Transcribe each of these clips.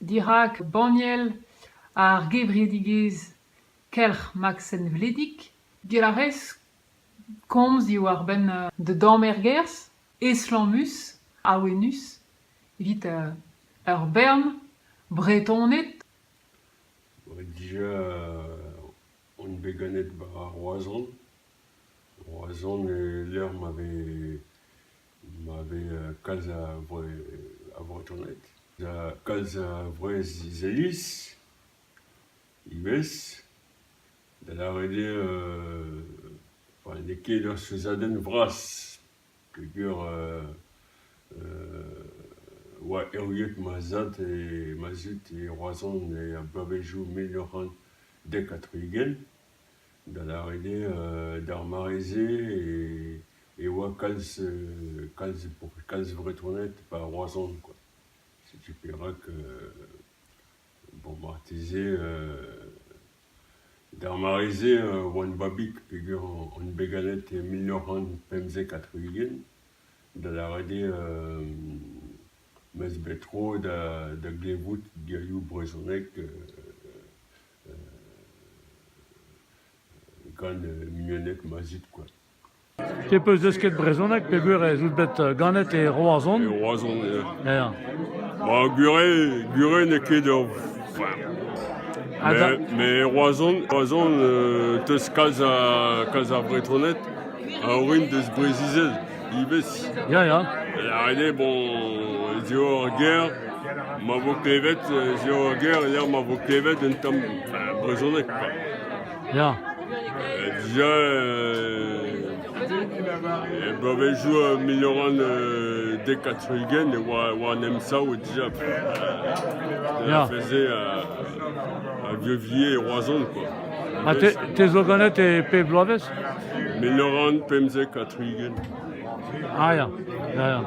Dirak banniel ar gevredigezh Kelc'h Maksen Vledig Gillarez komz diwar-benn da damm ergerzh estlammus, awenus evit ur bern Bretoned. Dija on bet ganet war Roazhon. Roazhon eo lec'h ma vez Ma vez kalz a Vretoned, kalz a Vreizh-Iliz ivez, da lâret eo n'eo ket ur souezhadenn vras peogwir oa erruet ma zad e ma zud e Roazhon e bloavezioù mil nav c'hant dek ha tri-ugent. Da lâret eo d'ar mare-se e oa kalz kalz kalz Vretoned e Roazhon quoi. Setu perak bon marteze d'ar mare-se oan babig peger on bet ganet e mil nav c'hant pemzek ha tri-ugent da lâret eo m'eus bet tro da da glevout gerioù brezhonek Gant muenneg ma zud kwa. Piv 'peus desket brezhoneg peogwir ez out bet ganet e Roazhon? E Roazhon, ya. Ya. Ba, gure, gure n'eo ket ur... Ha da- Mais, mais Roazhon, Roazhon euh, 'teus kalz, a, kalz ar Bretoned a orin deus Breizh-Izel. ivez. Ya, ya. Ret eo, bon, ez eo ur ger ma vo klevet, ez eo ur ger lec'h ma vo klevet un tamm brezhoneg. Ya. Déjà, e bloavezhioù milion dekatrigen e oa, oa an emsav déjà. Ja. Faisait à, à Vieux-Villiers et Roazhon, quoi. Ha te, zo ganet e pep bloavezh Mil nav c'hant pemzek ha tri-ugent. Ah ya, ya, ya.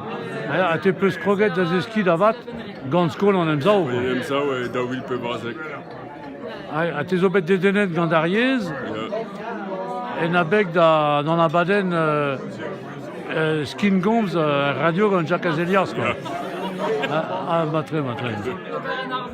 Ah, ha te peus kroget da zeskiñ da vat gant skol an emsav En emsav e daou vil pebrazek. Ha te zo bet dedennet gant ar yezh en abeg da d'an abadenn euh, euh, Skin Goms euh, radio gant Jacques Azelias. Quoi. Ah, ah, ba tre, ba tre.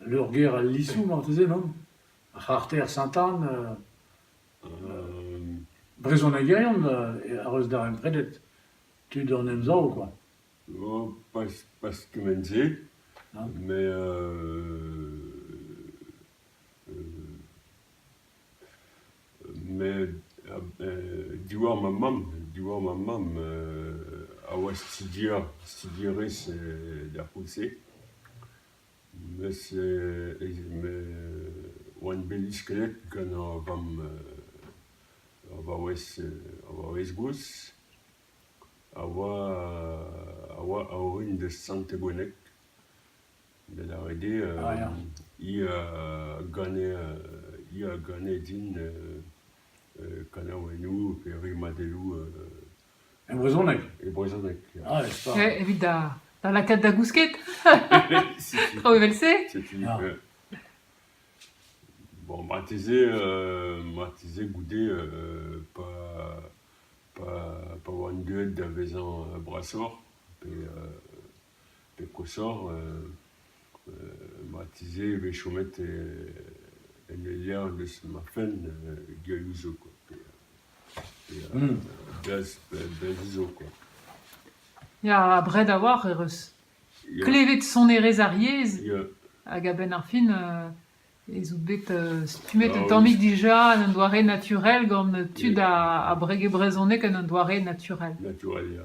Leurgêr al Lisoù marteze, non ? Ar c'harter Saint-Anne brezhonegerien a reus darempredet tud an Emsav kwa. Pas kement-se, met diwar ma mamm, diwar ma mamm a oa studier, studierez d'ar c'houlz-se. Mes oan bet lisket gant ur vamm ur vaouez ur vaouez gozh a oa a oa a-orin da Sant-Ebweneg da lâret eo hi a gane hi a gane din kanaouennoù pe rimadelloù E brezhoneg. E brezhoneg. ya. Ah, n'est-ce pas Eh, Evit da, da lakaat da gousket, Setu, traoù evel-se. setu. Ah. ouais. Bon, marteze, euh, marteze goude euh, pas, pas, pas oan deuet da vezañ euh, brasoc'h, pe euh, pe koshoc'h ma tizhe e vez chomet en e levr eus ma fenn gerioù zo kwa pe berzh zo kwa. Ya abred a-walc'h ec'h eus. Klevet sonerezh ar yezh hag a-benn ar fin ez out bet stummet un tammig dija en un doare naturel gant tud a brege brezhoneg en un doare naturel. Naturel ya.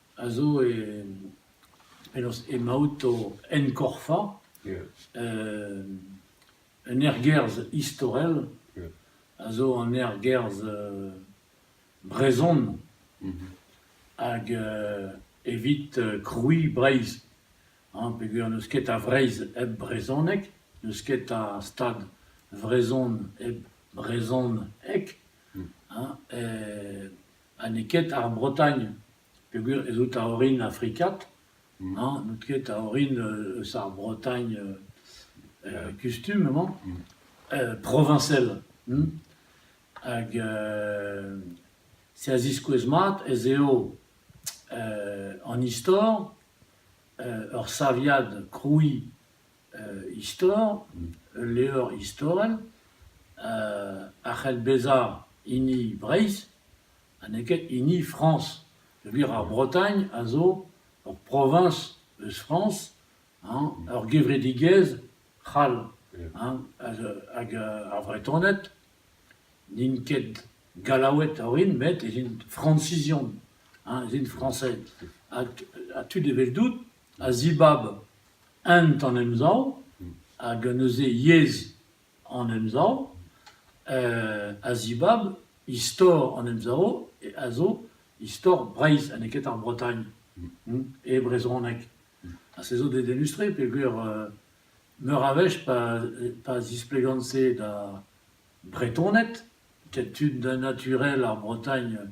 a zo penaos emaout o enkorfañ un ergerzh istorel a zo an ergerzh brezhon hag evit krouiñ Breizh hañ peogwir n'eus ket a Vreizh hep brezhoneg, n'eus ket a stad vrezhon hep brezhoneg hañ. Ha n'eo ket ar Bretagne peogwir ez out a-orin afrikat, mañ n'out ket a-orin eus ar Bretagne kustum emañ, proviñsel hag se a ziskouez mat ez eo an istor ur saviad krouiñ istor, ul levr istorel a c'hell bezañ hini Breizh ha n'eo ket hini Frañs. Peogwir ar Bretagne a zo ur proviñs eus Frañs, ur gevredigezh c'hall. Hag ar Vretoned n'int ket Gallaoued a orin met ez int Frañsizion, ez int Frañsed. Ha tud eveldout a zibab ent an Emsav hag neuze yezh an Emsav, a zibab istor an Emsav a zo istor Breizh ha n'eo ket ar Bretagne e brezhoneg. Ha se zo dedennus-tre peogwir meur a wech pa zisplegan-se da Bretoned, ket tud naturel ar Bretagne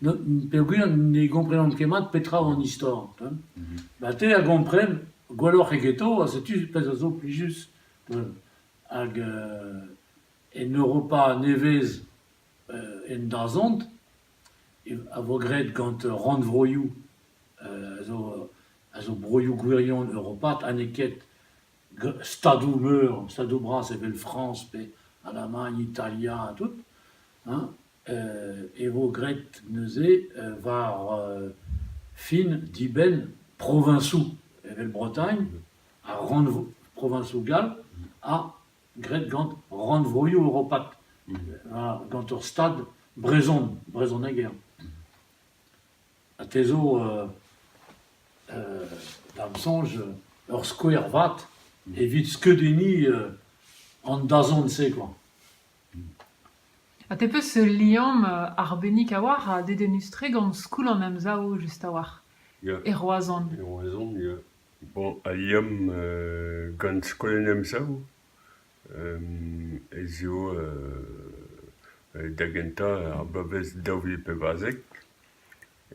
peogwir ne gomprenan ket mat petra eo an istor. Ha te a gompren gwelloc'h egeto ha setu pezh a zo plijus. Hag en Europa nevez en dazont a vo graet gant rannvroioù a zo broioù gwirion europat ha n'eo ket stadoù-meur, stadoù bras evel Frañs pe Alamagn, Italia ha tout. e vo graet neuze war fin dibenn proviñsoù evel Bretagne ha rannvro proviñsoù gall ha graet gant rannvroioù europat gant ur stad brezhon brezhoneg eo ha te zo da'm soñj ur skouer vat evit skeudenniñ an dazont-se koa. Ha te 'peus ul liamm arbennik a-walc'h ha dedennus-tre gant Skoul an Emsav just a-walc'h Ya, e Roazhon. e Roazhon ya. Bon, al liamm euh, gant Skol an Emsav ez eo euh, da gentañ ar bloavezh daou vil pevarzek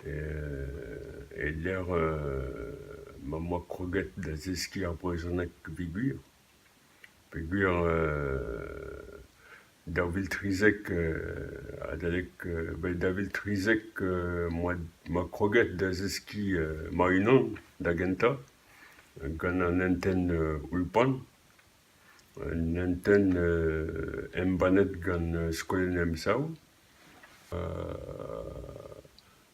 e-lec'h euh, ma 'm boa kroget da zeskiñ ar brezhoneg peogwir. peogwir daou vil trizek adalek bet daou vil trizek oa ma kroget da zeskiñ ma-unan da gentañ gant an hentenn Ulpan, un hentenn embannet gant skol an Emsav.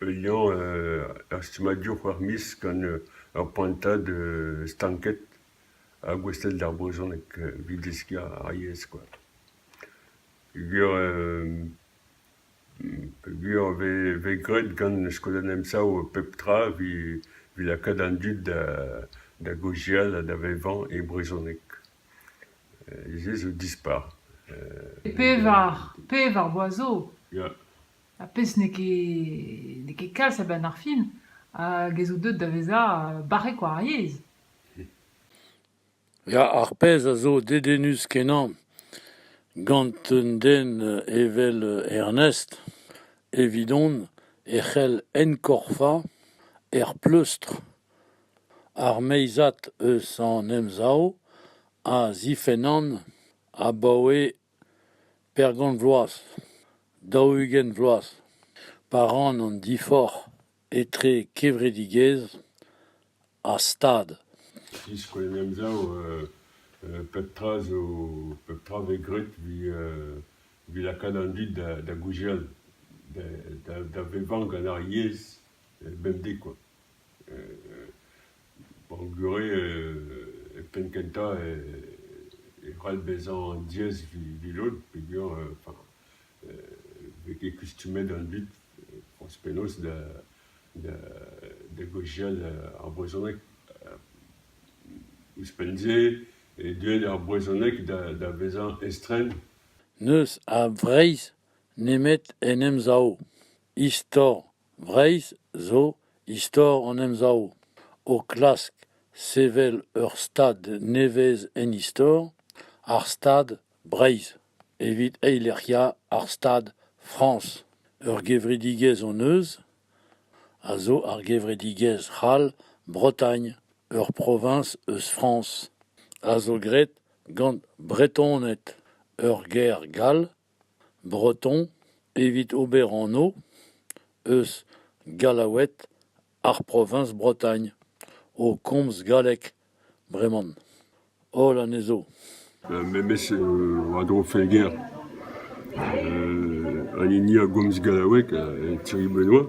Unan ur stummadur war miz gant ur prantad stanket ha gouestlet d'ar brezhoneg evit deskiñ ar yezh kwa. Peogwir peogwir e vez e vez graet gant skeudenn emsav pep tra evit evit lakaat an dud da da gaozeal ha da vevañ e brezhoneg. Se zo dispar. E pevar pevar boaz zo. Ya. Ar pezh n'eo ket n'eo ket kalz a-benn ar fin hag ez out deuet da vezañ barrek war ar yezh. Ya, ar pezh a zo dedennus-kenañ gant un den evel Ernest, evidon e c'hell enkorfañ er pleustr ar meizad eus an Emsav a zifennan abaoe Pergont vloaz, daou-ugent vloaz, pa ran an diforc'h etre kevredigezh ha stad. E-skouern-emsav pep tra zo pep tra vez graet evit lakaat an dud da gouzial, da vevañ gant ar yezh bemdez kwa. Hor gure penn-kentañ e c'hall bezañ an diez vilout peogwir vez ket kustumet an dud forzh penaos da gozhial ar brezhoneg. Ouzhpenn-se eo deuet ar brezhoneg da vezañ estren. N'eus a Vreizh nemet en Emsav, istor. Breizh zo istor an Emsav o klask sevel ur stad nevez en istor, ar Stad Breizh, evit eilec'hiañ ar Stad Frañs. Ur gevredigezh hon eus a zo ar gevredigezh c'hall Bretagne, ur proviñs eus Frañs, a zo graet gant Bretoned ur gêr gall. breton evit ober anv eus gallaoued ar proviñs Bretagne o komz galleg breman holl anezho. Memes war-dro Felger an hini a gomz gallaoueg, Thierry Benoît.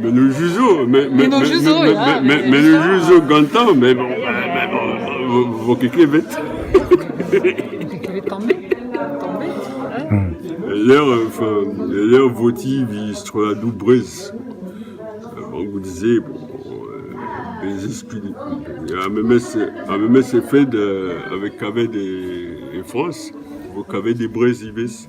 Mennoù just zo, mennoù zo gantañ, mais bon, vo ket klevet. L'air votif, il se trouve à Doubrez. Avant que vous disiez, bon, des esprits. A memes effet avec Cavet et France, vous Cavet des Brésivés.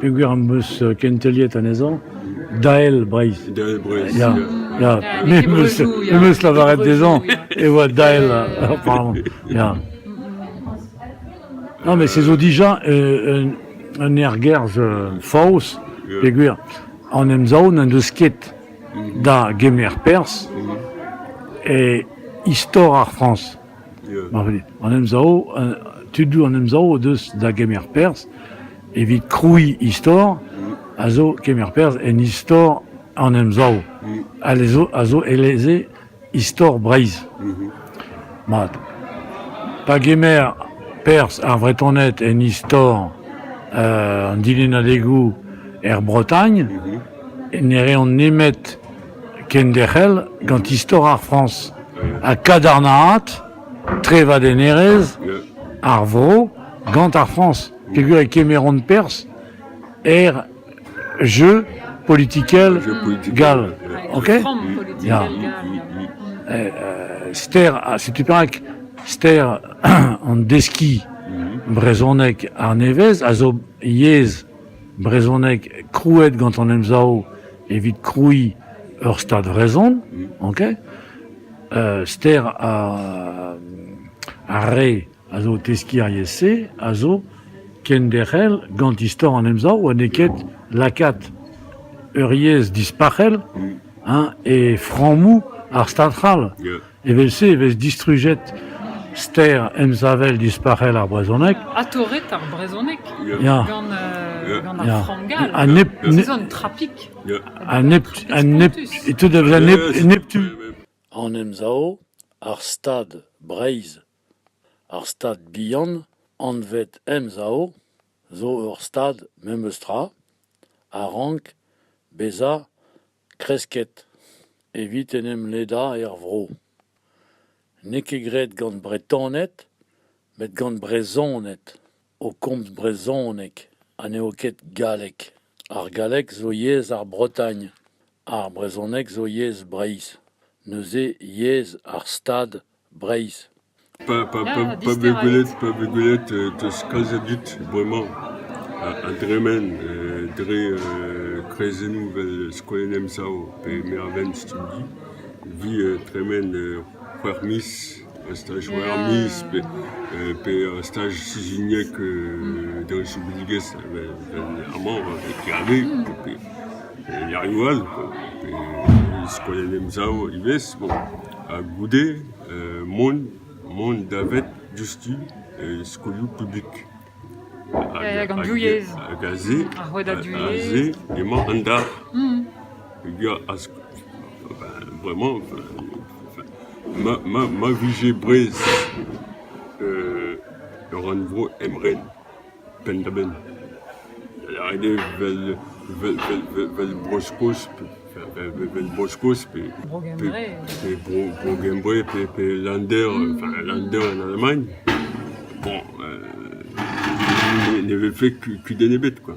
peogwir am eus kenteliet anezhañ Dael Breizh. Dael Breizh, ya. ya. Me em eus, em eus lavaret dezhañ e oa Dael apparemment, ya. Non, mais c'est zo déjà euh, un, un ergerzh euh, faos, peogwir an emsav n'en deus ket da gemer perzh e istor ar Frañs. An emsav, tudoù an emsav o deus da gemer perzh evit krouiñ istor a zo kemer perzh en istor an emsav a zo eleze istor Breizh. Mat. Pa gemer perzh ar Vretoned en istor an dilennadegoù er Bretagne ne reont nemet kenderc'hel gant istor ar Frañs ha kadarnaat trevadennerezh ar vro gant ar Frañs peogwir e kemeront perzh er jeu politikel gall. OK Ya. Eh, eh, ster, ah, setu perak ster an deskiñ brezhonek arnevez a zo yezh brezhoneg krouet gant an Emsav evit krouiñ ur Stad vrezhon, ok, ster ar re a zo o teskiñ ar yezh-se a zo kenderc'hel gant istor an Emsav ha n'eo ket lakaat ur yezh dispac'hel hein, e frammoù ar Stad c'hall. Evel-se e vez distrujet ster emsavel dispac'hel ar brezhoneg. Ha torret ar brezhoneg ya. gant, euh, gant ar frangal. Ha nep, nep, un trapik. Ha nep, ha nep, e teu da vezañ nep, neptu. En emsav, ar Stad Breizh, ar Stad bihan, anvet Emsav, zo ur Stad memes tra, a rank bezañ Kresket evit en em ledañ er vro. N'eo ket graet gant Bretoned met gant Brezhoned o komz brezhoneg ha n'eo ket galleg. Ar galleg zo yezh ar Bretagne, ar brezhoneg zo yezh Breizh. Neuze yezh ar Stad. Breizh. Pa vez gwelet pa vez gwelet 'teus kalzet dit bremañ a dremen dre kreizennoù 'vel Skouer Emsav pe Mervent Stumdi 'vi tremen c'hwec'h miz a staj c'hwec'h miz pe a staj sizhuniek d'an soubidigezh vel amañ avec Hervé pe erioù all pe Skouer Emsav ivez bon. ha goude mont davet diouzhtu e skolioù publik. Hag aze emañ an dar. Vraiment, ma vije Brest ur rannvro emren. penn-da-benn. Aet eo vel vel vel vel vel Bro-Skos vel Bro-Skos pe pe Bro Bro-Gembre pe pe Länder enfin Länder en Alamagn. Bon ne ne vefe kudenn ebet quoi.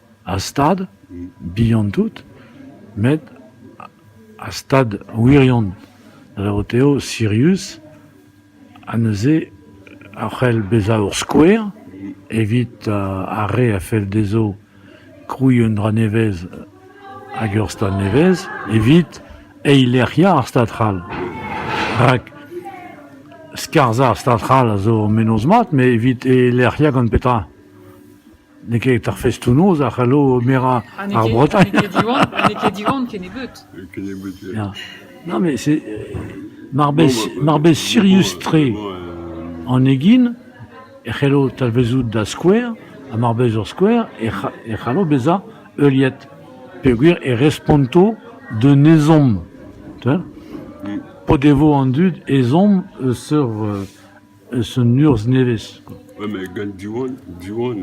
Ar stad bihan tout, met ar stad wirion da lavarout eo sirius ha neuze a c'hell bezañ ur skouer evit ar re a fell dezho krouiñ un dra nevez hag ur stad nevez evit eilerc'hiañ ar stad c'hall. Rak skarzhañ ar stad c'hall a zo menoz mat, met evit eilerc'hiañ gant petra ? N'eo ket ar festoù-noz a c'hallo merañ ar Bretagne. N'eo ket Diwan, n'eo ket Diwan kennebeut. Ya. Non, mais c'est... Mar bez, mar bez sirius-tre an egin e c'hello talvezout da skouer, ha mar bez ur skouer, e c'ha- e c'hallo bezañ heuliet peogwir e responto d'un ezhomm. Tu vois? P'o devo an dud ezhomm eus ur euh, Eus un urzh nevez. Gant Diwan, Diwan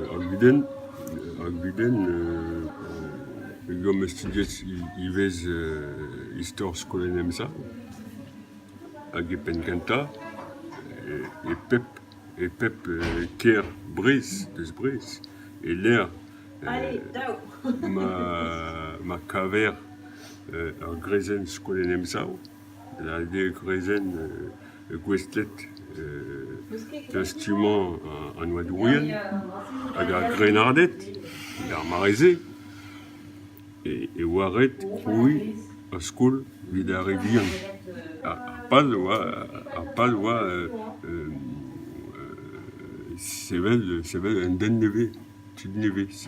ar gudenn, ar gudenn gomp studiet ivez istor skolaenn Emsav hag e penn kentañ e pep e pep kêr Breizh, deus Breizh e-lec'h ma kaver ur greizenn skolaenn Emsav. hag gwezenn gouestlet da stummañ an oadourien hag ar grennarded d'ar mare-se e oa ret krouiñ ur skol evit ar re vihan. Ar pal a oa ar pal oa sevel sevel un den nevez, tud nevez.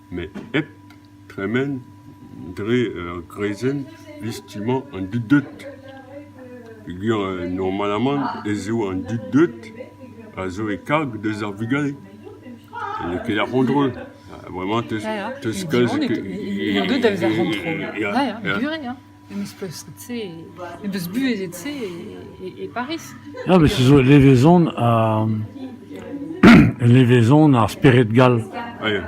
met hep tremen dre ur greizenn liestummañ an dud deut peogwir normalamant ez eo an dud deut a zo e karg deus ar vugale ha n'eo ket ar c'hontrol ha vraiment 'teus kalz... ya ya buan eo. Em eus pleustret-se, em eus buhezet-se e e Pariz. Ya, met se zo levezon ha levezon ar spered gall.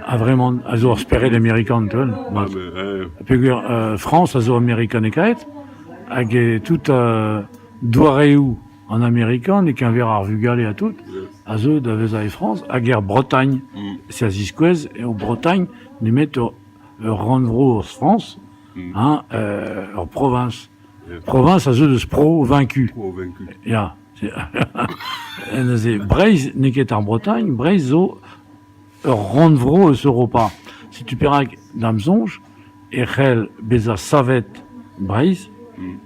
A vremañ a zo ar spered amerikan tout. Peogwir euh Frañs a zo amerikanekaet hag e tout euh doareoù an amerikan e-keñver ar vugale ha tout a zeu da vezañ e Frañs hag er Bretagne. Si a ziskouez eo Bretagne nemet ur ur rannvro eus Frañs hein ur proviñs. Proviñs a zeu deus Pro vaincu. Pro vaincu. Ya. Neuze Breizh n'eo ket ar Bretagne, Breizh zo ur rannvro eus Europa. Setu perak, da'm soñj, e c'hell bezañ savet Breizh,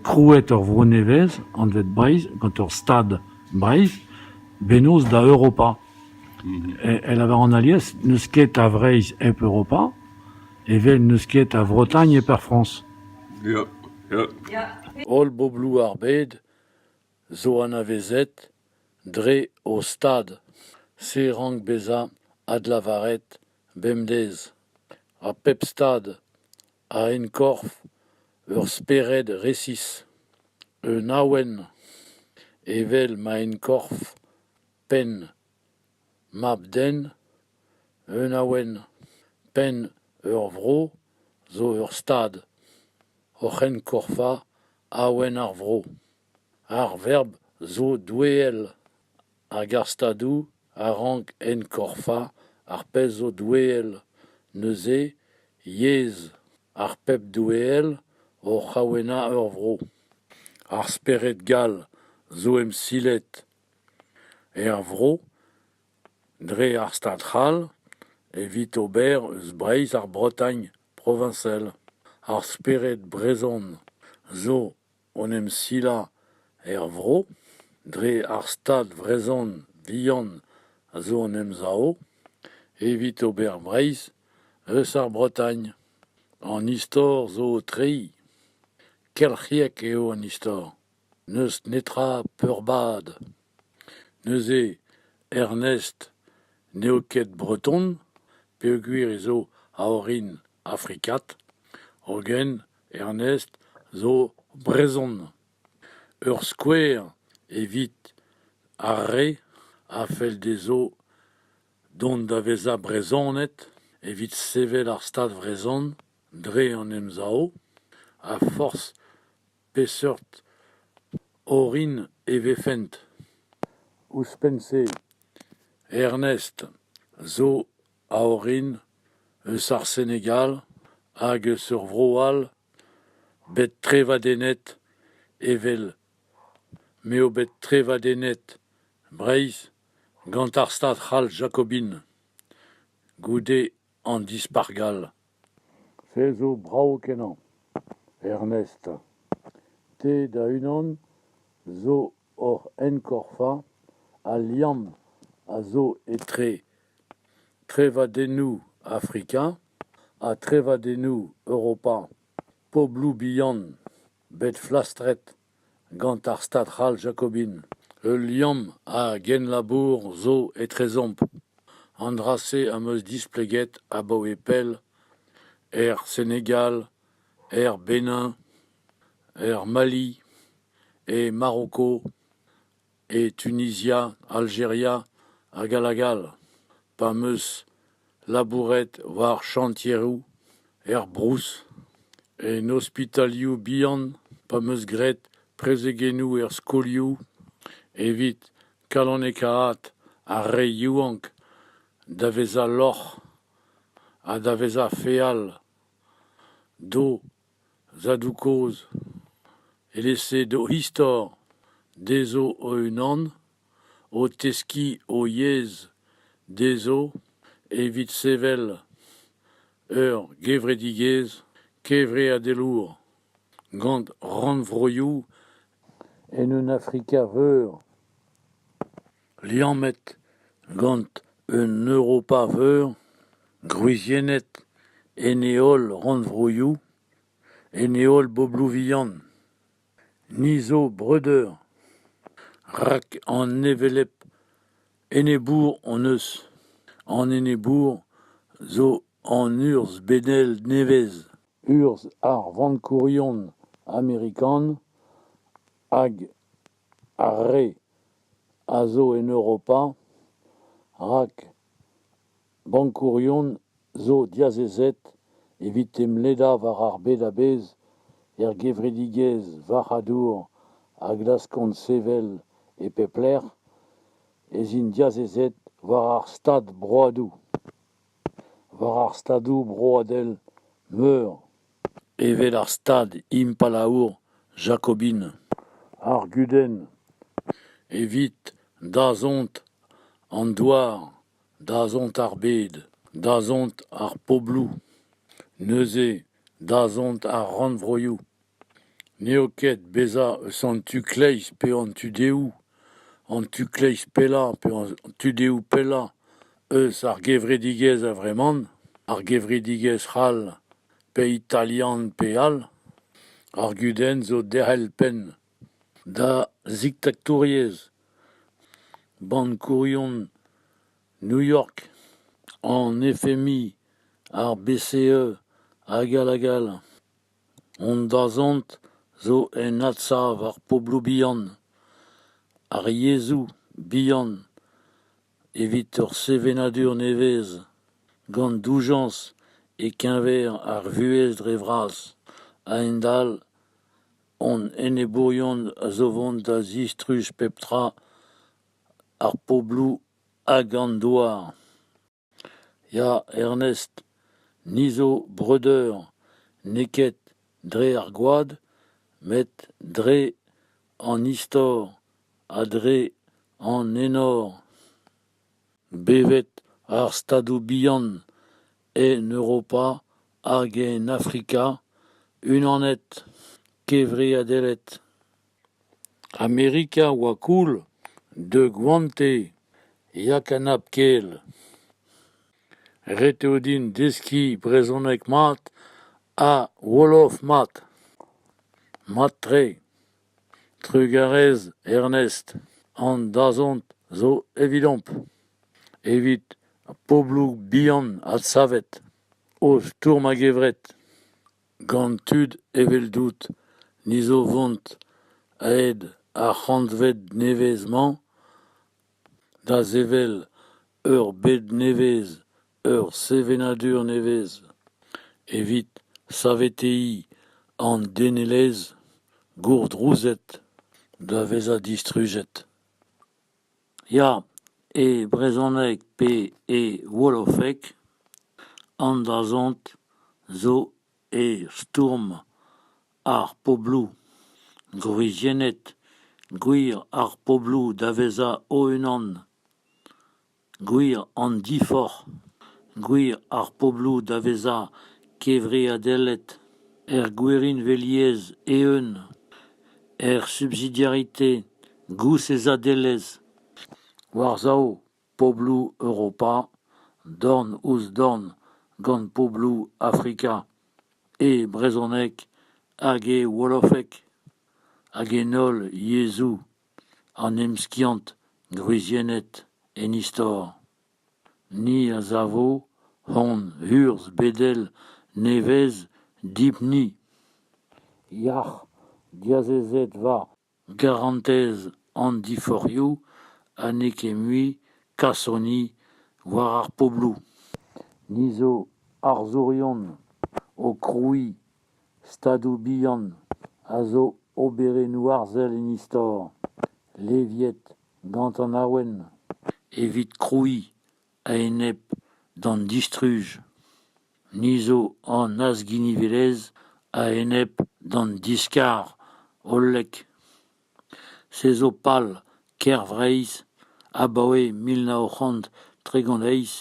krouet ur vro nevez anvet Breizh, gant ur stad Breizh, bennozh da Europa. E, e lavar an alies, n'eus ket a Vreizh hep Europa, Evel n'eus ket a Vretagne per Frañs. Ya, ya. Holl bobloù ar bed zo anavezet dre o stad. Se rank bezañ adlavaret bemdez. Ha pep stad a enkorf ur spered resis, un awen, evel ma enkorf penn. Mab-den, un awen, penn ur vro, zo ur stad, oc'hen korfañ awen ar vro. Ar verb zo doueel hag ar stadoù a rank enkorfañ ar pezh zo doueel, neuze yezh ar pep doueel oc'h awenañ ur vro. Ar spered gall zo emsilet. Er vro, dre ar Stad c'hall, evit ober eus Breizh ar Bretagne proviñsel, ar spered brezhon zo en em silañ er vro, dre ar Stad vrezhon vihan a zo en Emsav, evit ober Breizh eus ar Bretagne. An istor zo o treiñ. Kelc'hiek eo an istor. N'eus netra peurbad. Neuze, Ernest n'eo ket breton peogwir ez eo a orin afrikat, hogen Ernest zo brezhon. Ur skouer evit ar re a fell dezho dont da vezañ Brezhoned evit sevel ar Stad vrezhon dre an Emsav a forzh Peseurt orin e vefent ? Ouzhpenn-se, Ernest zo a orin eus ar Senegal hag eus ur vro all bet trevadennet evel m'eo bet trevadennet Breizh gant ar stad c'hall jakobin goude an Dispac'h gall. Se zo brav-kenañ, Ernest. Te da-unan zo hoc'h enkorfañ, al liamm a zo etre trevadennoù Afrika ha trevadennoù Europa, pobloù bihan bet flastret. Gant ar stad c'hall jakobin, ul liamm a genlabour zo etrezomp. An dra-se am eus displeget abaoe pell er Senegal, er Benin, er Mali, e Maroko. e Tunizia, Aljeria hag all hag all, pa 'm eus labouret war chantieroù er Brouz, en ospitalioù bihan, pa 'm eus graet prezegennoù er skolioù evit kalonekaat ar re yaouank da vezañ lorc'h ha da vezañ feal, d'o Zadoù kozh, evel-se d'o istor, dezho o-unan, o teskiñ o yezh dezho evit sevel ur gevredigezh kevreadelour gant rannvroioù en un Afrika veur. liammet gant un Europa-veur, gwriziennet en he holl rannvroioù, en he holl bobloù vihan. Ni zo breudeur, rak an hevelep enebour hon eus. An enebour zo an urzh benel nevez, urzh ar vankourion amerikan hag Ar re a zo en Europa rak bankourion zo diazezet evit emledañ war ar bed a-bezh er gevredigezh varc'hadour a glaskont sevel e pep lec'h ez int diazezet war ar stad broadoù. war ar stadoù broadel meur evel ar stad impalaour jakobin ar gudenn evit dazont an douar dazont ar bed dazont ar pobloù neuze dazont ar rannvroioù N'eo ket bezañ eus an tu-kleiz pe an tu-dehoù, an tu-kleiz pellañ pe an tu-dehoù pellañ eus ar gevredigezh a-vreman, ar gevredigezh c'hall pe italian pe all, ar gudenn zo derc'hel penn da ziktaktouriezh, bankourion New York, an FMI, ar BCE hag all hag all. Hon dazont zo en adsav ar pobloù bihan, ar yezhoù bihan evit ur sevenadur nevez, gant doujañs e-keñver ar vuhez dre vras. A-hend-all, hon enebourion a zo vont da zistruj pep tra ar pobloù hag an douar. Ya, Ernest, ni zo breudeur, n'eo ket dre ar gwad, met dre an istor ha dre an enor. Bevet ar Stadoù bihan, en Europa hag en Afrika, unanet, kevreadelet. Amerika oa cool, deuet gante, ya kanab-kel. Ret eo din deskiñ brezhoneg mat ha wolof mat. Mat-tre. Trugarez Ernest, an dazont zo evidomp, evit pobloù bihan adsavet, o stourm a-gevret. Gant tud eveldout ni zo vont aet ar c'hantved nevez-mañ da sevel ur bed nevez, ur sevenadur nevez, evit saveteiñ an denelezh gourdrouzet da vezañ distrujet. Ya, e brezhoneg pe e wolofeg an dazont zo e stourm ar pobloù. Gwriziennet gwir ar pobloù da vezañ o-unan. Gwir an diforc'h. Gwir ar pobloù da vezañ kevreadelet er gwirionveliezh eeun, er subsidiarite. Gousezadelezh war-sav pobloù Europa, dorn-ouzh-dorn gant pobloù Afrika, e brezhoneg hag e wolofeg, hag en holl yezhoù an emskiant gwriziennet en istor. Ni a savo hon urzh bedel nevez dipni. Yac'h, diazezet war Garantez an diforc'hioù ha n'eo ket mui kasoni war ar pobloù. Ni zo arzourion o krouiñ stadoù bihan a zo oberennoù arzel en istor, leviet gant an awen. Evit krouiñ a-enep d'an distruj, ni zo an azginivelezh a-enep d'an diskar hollek. Se zo pal Kêr-Vreizh abaoe mil nav c'hant tregont eizh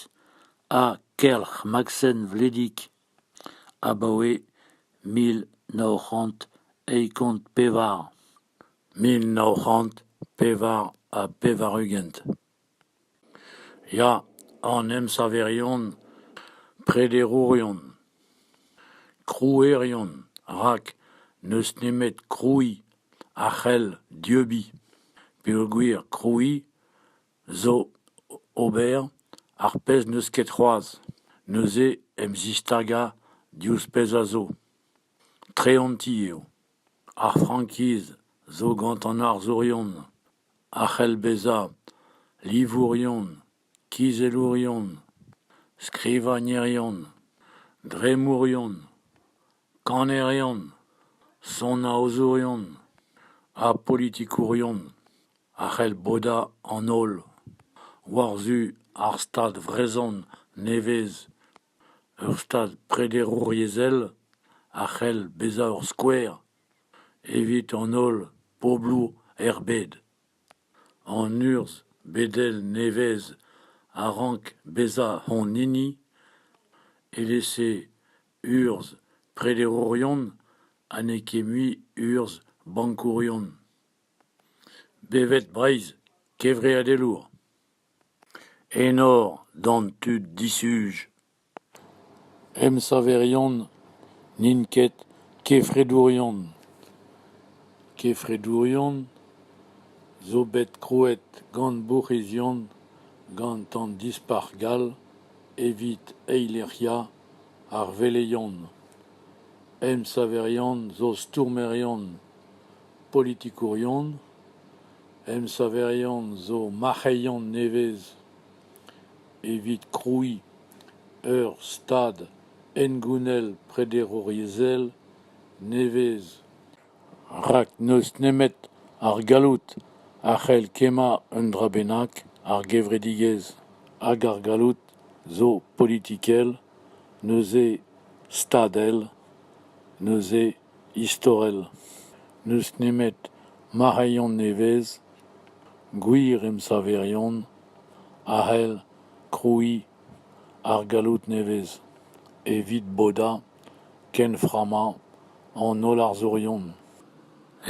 ha Kelc'h Maksen Vledig abaoe mil nav c'hant eizh kant pevar, mil nav c'hant pevar ha pevar-ugent. Ya, an emsaverion, prederourion, krouerion, rak n'eus nemet krouiñ a c'hell dieubiñ peogwir krouiñ zo ober ar pezh n'eus ket c'hoazh, neuze em zistagañ diouzh pezh a zo. Treanti eo. Ar frankiz zo gant an arzourion. a c'hell bezañ livourion, kizellourion, skrivagnerion, dremmourion, kannerion, sonaozourion ha politikourion a c'hell bodañ an holl war-zu ar Stad vrezhon nevez. Ur Stad prederouriezhel a c'hell bezañ ur skouer evit an holl bobloù er bed. An urzh bedel nevez a rank bezañ hon hini, evel-se urzh prederourion ha n'eo ket mui urzh bankourion. Bevet Breizh, kevreadelour. Enor d'an tud disuj. Emsaverion n'int ket kefredourion. Kefredourion zo bet krouet gant bourc'hizion gant an Dispac'h gall evit eilec'hiañ ar veleion. Emsaverion zo stourmerion politikourion. Emsaverion zo marc'heion nevez. evit krouiñ ur stad hengounel prederouriezhel nevez rak n'eus nemet ar galloud a c'hell kemmañ un dra bennak ar gevredigezh hag ar galloud zo politikel neuze stadel neuze istorel. N'eus nemet marc'heion nevez, gwir emsaverion, a c'hell krouiñ ar galloud nevez evit bodañ kenframmañ an holl arzourion.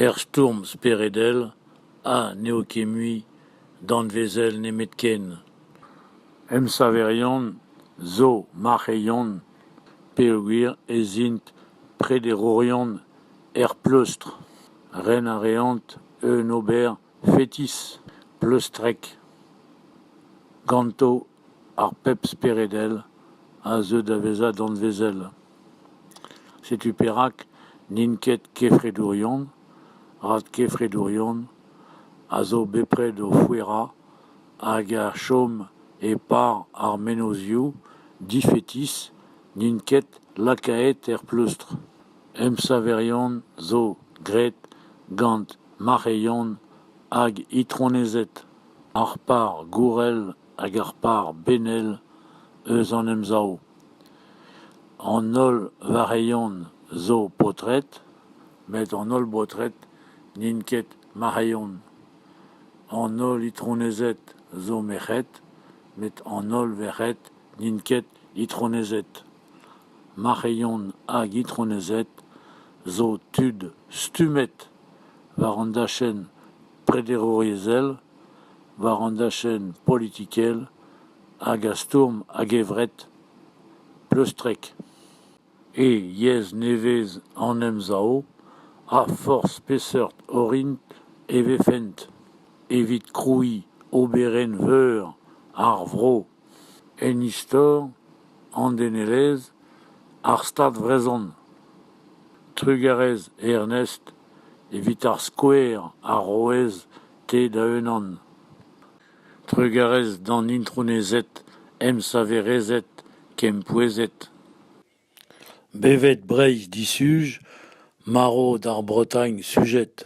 Er stourm speredel ha n'eo ket mui danvezel nemetken. Emsaverion zo marc'heion peogwir ez int prederourion er pleustr. Ren a reont un ober fetis pleustrek ganto ar pep speredel a zeu da vezañ danvezel. Setu perak n'int ket kefredourion, rak kefredourion a zo bepred o fouerañ hag a chom e-par ar mennozhioù difetis n'int ket lakaet er pleustr. Emsaverion zo graet gant mac'heion hag itronezed. Ar par gourel hag ar par benel eus an Emsav. An holl varc'heion zo paotred met an holl baotred n'int ket marc'heion. An holl itronezed zo merc'hed, met an holl verc'hed n'int ket itronezed. Marc'heion hag itronezed zo tud stummet war an dachenn prederouriezhel, war an dachenn politikel hag a stourm a-gevret, pleustrek. E yezh nevez an Emsav ha forzh peseurt orin e vefent evit krouiñ oberenn veur ar vro, en istor, an denelezh, ar Stad vrezhon. Trugarez Ernest evit ar skouer arouez-te da-unan. Trugarez d'an intronezed, emsaverezed, kempouezhet. Bevet Breizh disuj, marv d'ar Bretagne sujet.